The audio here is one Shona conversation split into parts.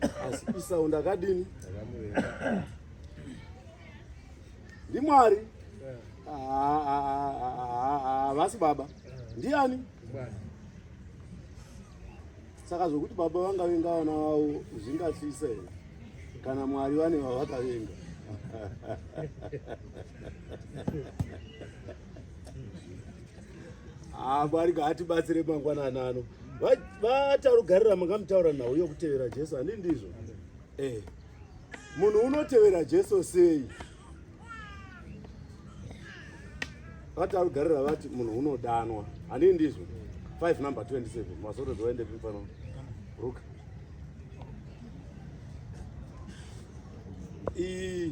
asi isaund akadini ndimwari havasi baba ndiani saka zvokuti baba vangavenga vana vavo zvingatyisa here kana mwari vane vavakavenga Ah, Mwari ngaatibatsire mangwanana ano. Va- Vatarugarira makamutaura nhau yokutevera Jesu, handi ndizvo? Eh. Munhu unotevera Jesu sei? Vatarugarira vati munhu unodanwa, handi ndizvo? 5 number 27 mazorodzi waende pi pano? Ruka. I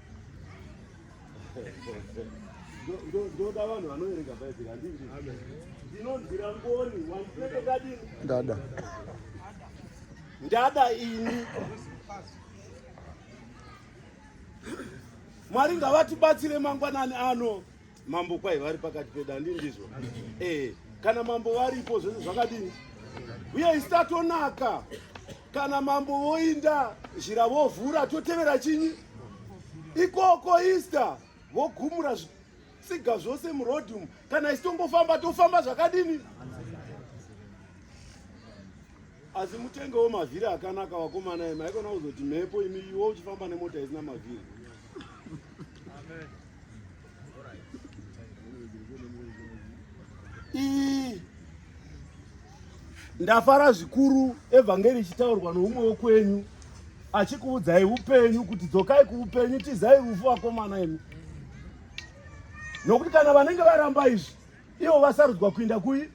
ndoda vanhu vanoerenga bhaibheri handii ndinonzira ngoni wandinekekadini ndada ndada ini mwari ngavatibatsire mangwanani ano Mambo kwai vari pakati pedandi ndizvo eh, kana mambo varipo zvese zvakadini uye isi tatonaka kana mambo voinda zhira vovhura totevera chinyi ikoko easter vogumura tsiga zvose muroad umu kana isi tongofamba tofamba zvakadini asi mutengewo mavhiri akanaka vakomana imi haikona kuzoti mhepo imi iwo uchifamba nemota isina mavhiri Amen. Ii. Ndafara zvikuru evhangeri ichitaurwa noumwe wokwenyu achikuudzai upenyu kuti dzokai kuupenyu tizai rufu vakomana imi nokuti kana vanenge varamba izvi ivo vasarudzwa kuinda kui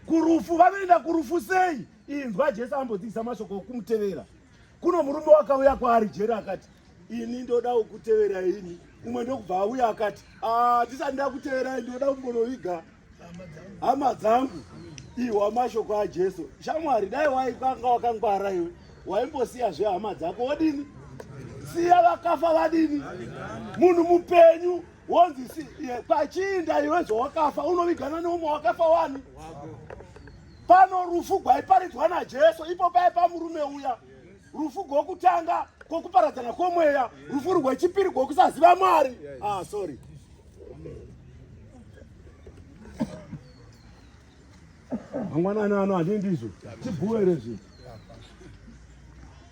kurufu vanoenda kurufu sei inzwa jesu ambodzivisa mashoko okumutevera Kuno murume wakauya kwaari jeri akati ini ndoda kukutevera ini umwe ndokubva auya akati ah, tisati ndakuteverai ndoda kumbonoviga hama dzangu ihwa mashoko ajesu shamwari dai waikanga wakangwara iwe waimbosiya zve hama dzako wodini siya vakafa vadini munhu mupenyu wonzi si, pachiinda iwe zvawakafa unovigana neumwe wakafa wani Pano rufu gwaiparidzwa naJesu ipo paye pamurume uya, rufu gwokutanga kwokuparadzana kwomweya, rufu rwechipiri gwokusaziva Mwari. Ah, sorry. mangwanani ano handii ndizvo tibhuwe rezvinhu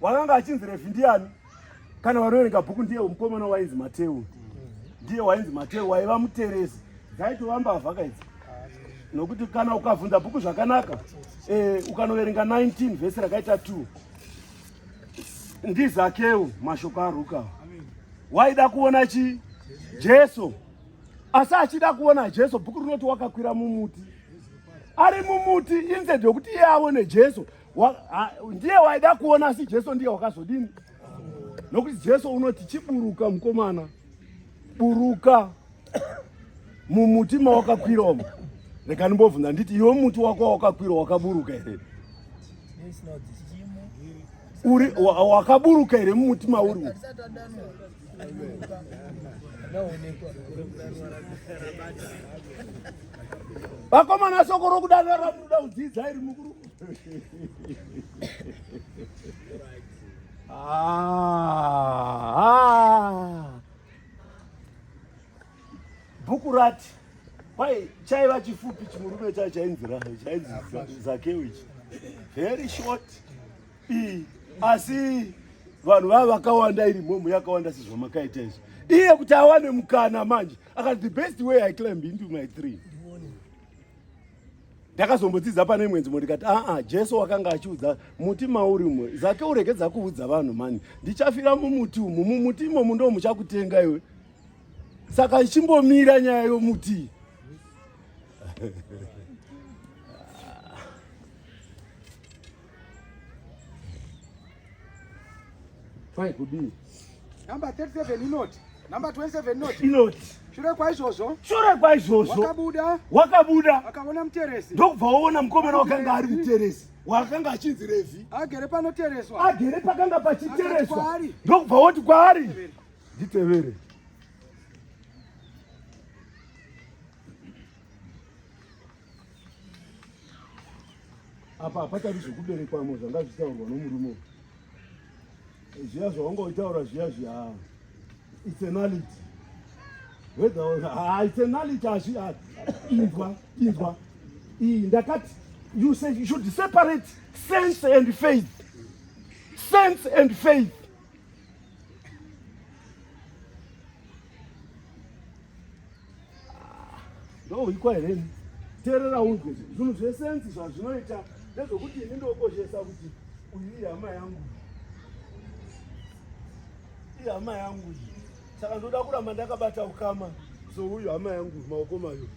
Wakanga achinzi Revhi ndiani? Kana wanoerenga bhuku ndiye mukomana wainzi Mateu. Ndiye wainzi Mateu waiva muterezi. Dzaitova mbavha kaidzi. Nokuti kana ukavhunza bhuku zvakanaka, eh, ukanoverenga 19 vhesi rakaita 2 ndizakeu mashoko aruka waida kuona chi jesu asi achida kuona jesu bhuku rinoti wakakwira mumuti ari mumuti instead yokuti iye aone jesu ndiye waida kuona asi jesu ndiye wakazodini nokuti jesu unoti chiburuka mukomana buruka mumuti mawakakwira umo rega ndimbobvunza nditi iwe muti wako wawakakwira wakaburuka here uri wakaburuka here mumuti mauri umo vakomana soko rokudanira ramunoda kudzidza iri mukuru Ah, ah. Bhuku rati kwai chaiva chifupi chimurume chacho chainzi chainzi Zakeu ichi very short i asi vanhu vava vakawanda iri mhomho yakawanda sezvamakaita izvi iye kuti awane mukana manje akati the best way i climb into my tree ndakazombodzidza pane imwe nzvimbo ndikati aa jesu wakanga achiudza muti mauri umwe zake uregedza kuudza vanhu mani ndichafira mumuti umu mumuti imomu ndo muchakutenga iwe saka ichimbomira nyaya yomuti Kwai kudii? Number 37 inoti. Number 27 inoti. Inoti. Shure kwaizvozvo. Shure kwaizvozvo. Wakabuda. Wakabuda. Akaona muteresi. Ndokubva waona mukomana wakanga ari muteresi. Wakanga achinzi Revhi. Agere panotereswa. Agere pakanga pachitereswa. Ndokubva woti kwaari. Nditevere. apa hapatauri zvekuberekwamo zvanga zvichitaurwa nomurume zviya zvawanga uchitaura zviya zviya its a knowledge its a knowledge hazvi inzwa inzwa iyi ndakati you say you should separate sense and faith sense and faith ndohwikwa here ini teerera unzwe zvinhu zvesensi zvazvinoita ndezvokuti ini ndokoshesa kuti uyu ihama yangu ihama yangu saka ndoda kuramba ndakabata ukama so uyu hama yangu maoko mayo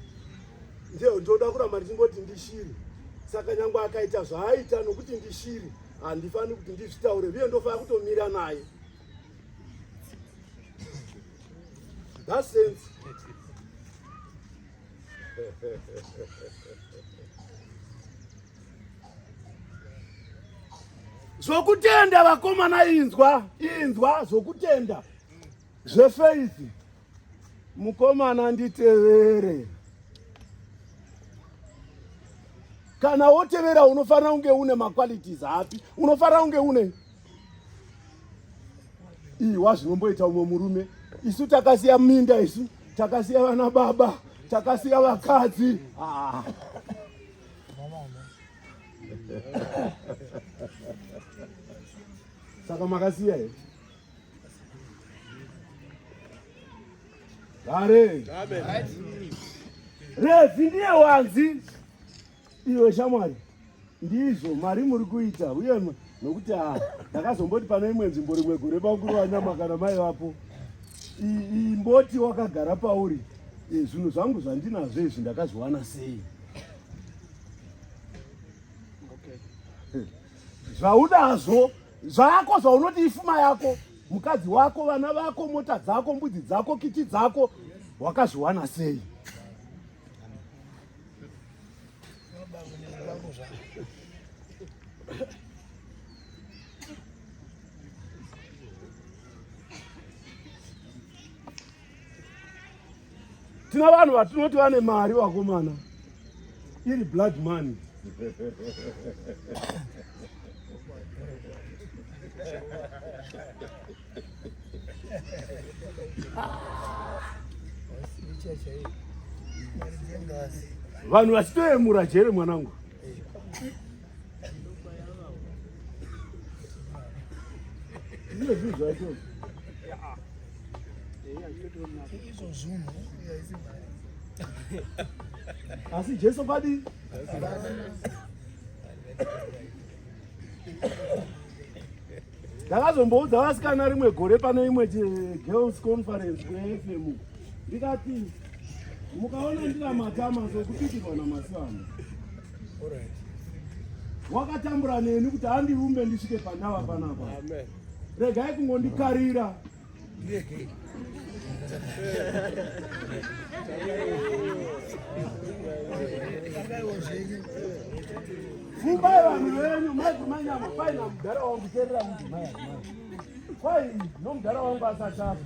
ndio ndoda kuramba ndichingoti ndishiri saka nyange akaita zvaaita nokuti ndishiri handifani kuti ndizvitaure uye ndofana kutomira naye that sense zvokutenda vakomana inzwa inzwa zvokutenda zvefeithi Mukomana nditevere. Kana wotevera unofanira kunge une maqualities api? Unofanira kunge une iwa zvinomboita umwe murume. Isu takasiya minda isu, takasiya vana baba, takasiya vakadzi. Ah. Saka makasiya here? Dare. Revi ndiye wanzi iwe shamwari ndizvo mari muri kuita uye nokuti ha ah, ndakazomboti pane imwe nzvimbo rimwe gore bakuru vanyama kana mai vapo imboti wakagara pauri eh, zvinhu zvangu zvandinazvo izvi ndakazviwana sei zvaunazvo zvako zvaunoti ifuma yako mukadzi wako vana vako mota dzako mbudzi dzako kiti dzako wakazviwana sei tina vanhu vatinoti vane mari vakomana iri blood money vanhu vachitoyemura jere mwanangu asi jesu padi ndakazomboudza vasikana rimwe gore pane imwe girls conference kufm ndikati mukaona ndina matama sokupitirwa namasana wakatambura neni kuti andiumbe ndisvike pandava panapa regai kungondikarira fumbai vanhu venyu madzimanyama kwai namudhara wangu terera mudzimai kwai nomudhara wangu asatafa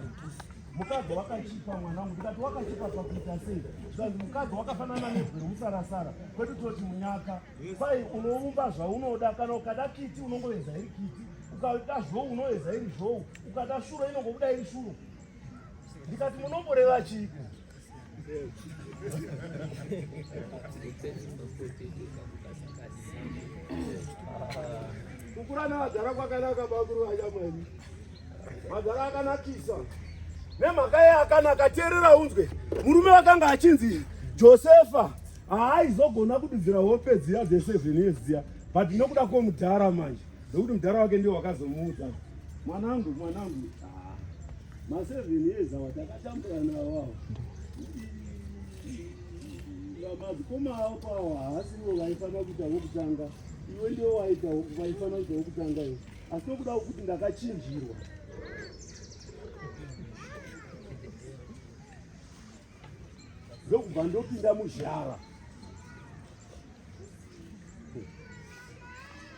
mukadzi wakachipa mwana wangu ndikati wakachipa pakuita sei zvanzi mukadzi wakafanana nebwe remusarasara kwedu toti munyaka kwai unoumba zvaunoda kana ukada kiti unongoveza iri kiti ukada zvou unoveza iri zvou ukada shuro inongobuda iri shuro ndikati munomboreva chiiko kukura nevadhara kwakanaka bakuru vanyamwani madhara akanakisa nemhaka ye akanaka teerera unzwe murume wakanga achinzi josefa haaizogona kududzira hope dziya dzeseven years dziya but nokuda kwomudhara manje nekuti mudhara wake ndiwo wakazomuudza mwanangu mwanangu Ma seven years awa takatambura nawo awa. Madzikoma awo kwawo haasivo vaifanira kuita wokutanga. Iwe ndiwo waita vaifanira kuita wokutanga iwe. Asi nokuda wokuti ndakachinjirwa. ndokubva ndopinda muzhara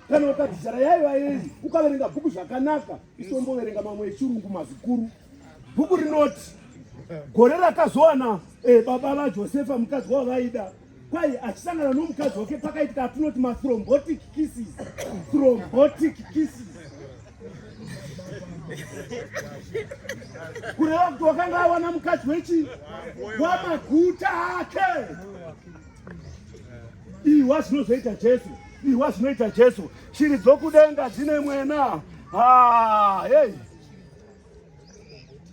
kana ukadzijara yaiva yei ukaverenga bhuku zvakanaka isomboverenga mamwe echirungu mazikuru bhuku rinoti gore rakazowana eh, baba vajosefa mukadzi wavaida kwai achisangana nomukadzi wake pakaitika atinoti mathrombotic kisses thrombotic kisses kureva kuti wakanga awana mukadzi wechi wamaguta ake Ihwa zvinozoita Jesu, ihwa zvinoita Jesu. Shiri dzokudenga dzine mwena. Ah, hey.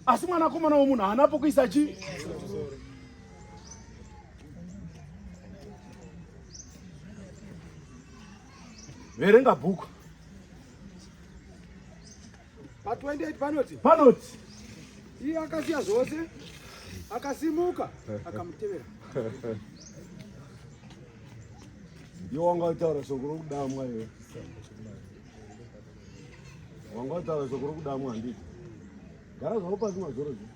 Asi mwanakomana womunhu haana pokuisa chii? Verenga bhuku. Pa 28 panoti. Panoti. Iye akasiya zvose akasimuka akamutevera. Yo wanga utaura shoko rokudamwa iwe. Wanga utaura shoko rokudamwa handiti. Gara zvako pasi mazoro zvi.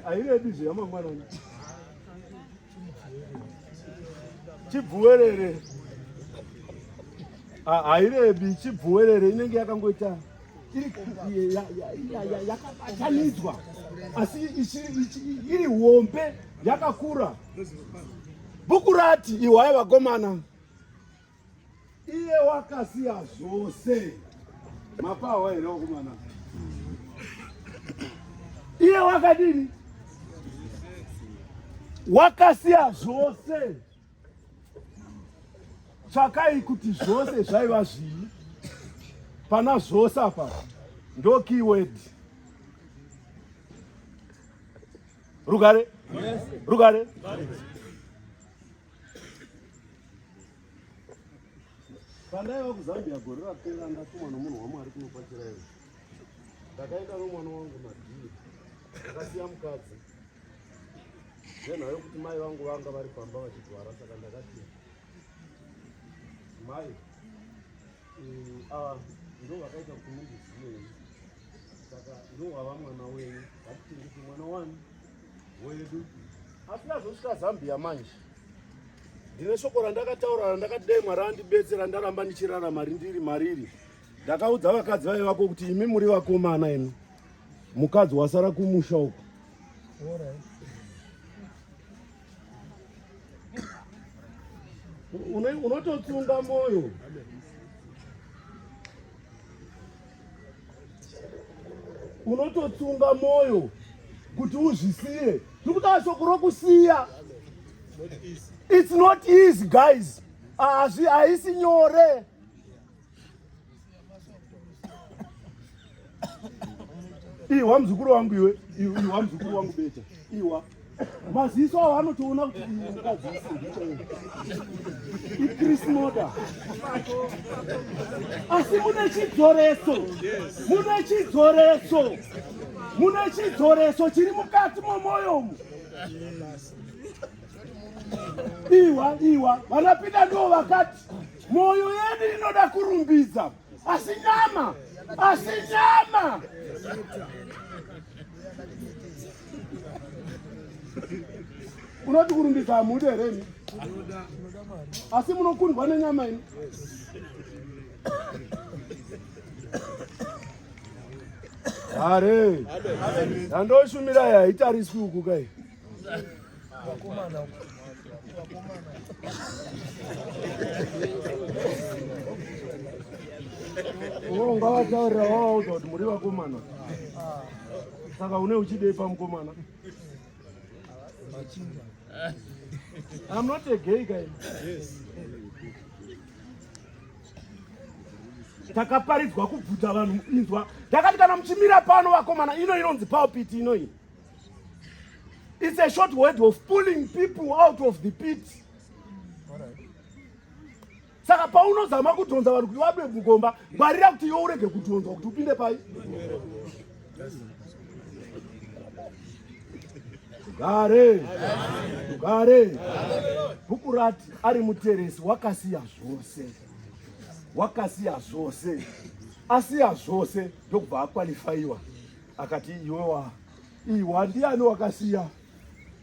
Airedi zve yamangwanani. chibvuwerere ah, hairebi chibvuwerere inenge yakangoita yakabatanidzwa asi iri hombe yakakura bhuku rati ihwai vakomana iye wakasiya zvose mapahwa here wakomana iye wakadini wakasiya zvose tsvakai kuti zvose zvaiva zvii pana zvose apa ndo keyword rugare rugare Pandaiva kuZambia gore rapera ndatumwa nomunhu waMwari kunokwachirayo. Ndakaenda nomwana wangu madii. Ndakasiya mukadzi. Ngenha yokuti mai vangu vanga vari pamba vachigwara saka ndakati mai ndovakaita kuti mundizive saka ndowava mwana wenyu vakutengese mwana wani wedu asi ndazosvika zambia manje ndine shoko randakataura randakati dai mwari andibetsera ndaramba ndichirarama rindiri mariri ndakaudza vakadzi vaive vako kuti imi muri vakomana ino mukadzi wasara kumusha uku unototsunga moyo unototsunga moyo kuti uzvisiye tiri kutaura shoko rokusiya it's not easy guys ah, haisi nyore Iwa mzukuru wangu iwe, iwa mzukuru wangu beta. Iwa. Maziso awo anotoona kuti mukadzi ichris moda asi mune chidzoreso mune chidzoreso mune chidzoreso chiri mukati momwoyomu iwa iwa vanapinda ndiwo vakati Mwoyo yedu inoda kurumbidza, asi nyama, asi nyama unoti kurumbidza hamude here ini asi munokundwa nenyama ini hare yandoshumirai haitariswi uku kai Wakomana. Wakomana. Uwo ungavataurira wawauza kuti muri vakomana. Saka une uchidei pamukomana? Machinja. I'm not a gay guy. Yes. Takaparidzwa kubvuta vanhu inzwa. Takati kana muchimira pano vakomana ino inonzi pulpit inoyi. It's a short word of pulling people out of the pit. Saka paunozama kudhonza vanhu kuti vabe mugomba, ngwarira kuti iwe urege kudhonzwa kuti upinde pai. Gare. Gare. Bhuku rati ari muteresi wakasiya zvose. Wakasiya zvose. Asiya zvose ndokubva akwalifaiwa. Akati iwewa iwa ndiani wakasiya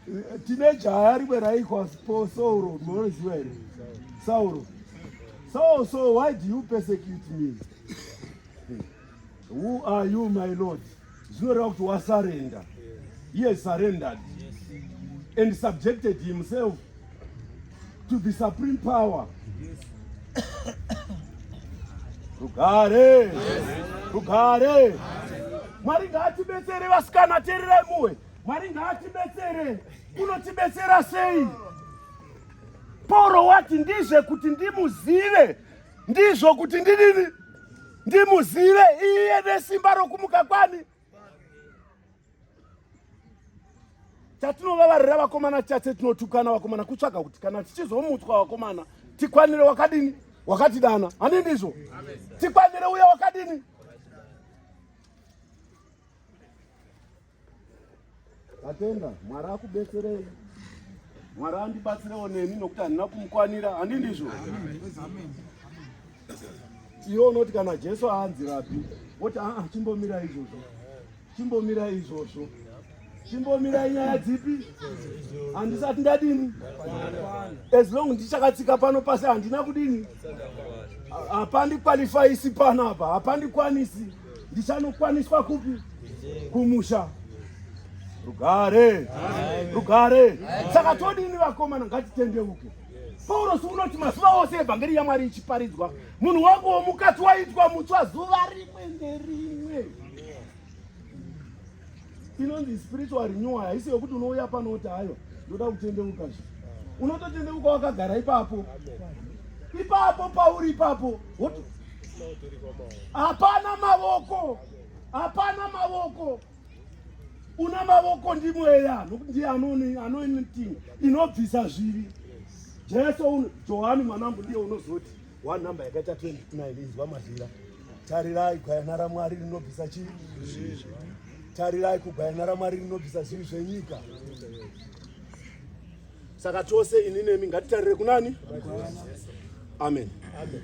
eh, tine jaya rimwe raikwa po Sauro munoziva here Sauro so so why do you persecute me who are you my lord zvinoreva kuti wasarenda he has surrendered and subjected himself to the supreme power rugare rugare mwari ngaatibetsere vasikana tererai muwe mwari ngaatibetsere unotibetsera sei poro wati ndizve kuti ndimuzive ndizvo kuti ndidini ndimuzive iye nesimba rokumuka kwani chatinovavarira vakomana chase tinotukana vakomana kutsvaga kuti kana tichizomutswa vakomana tikwanire wakadini wakatidana hani ndizvo tikwanire uya wakadini Tatenda Mwari akubetserei. Mwari andibatsirewo neni nokuti handina kumukwanira, handi ndizvo? Iwe unoti kana Jesu aanzi rapi, woti aa ah, chimbomira izvozvo, chimbomira izvozvo, chimbomira inyaya dzipi? Handisati ndadini? As long ndichakatsika pano pasi handina kudini? Hapandi qualify isi pano apa, hapandi kwanisi. ndichanokwaniswa kupi kumusha rugare rugare saka todini vakomana ngatitendeuke paurosi unoti mazuva ose evhangeri yamwari ichiparidzwa munhu wangu womukati waitwa mutswa zuva rimwe nerimwe inonzi spiritual renewal haisi yokuti unouya pano kuti hayo ndoda kutendeuka zve unototendeuka wakagara ipapo ipapo pauri ipapo hapana mavoko hapana mavoko una mavoko ndi mweya nokuti ndiye anointing inobvisa zvivi jesu johani mwanangu ndiye unozoti one number yakaita 29 inzwa mazira Tarirai gwayana raMwari rinobvisa chii? Tarirai kugwayana raMwari rinobvisa zvivi zvenyika. Saka tose ini nemi ngatitarire kunani? Amen. Amen.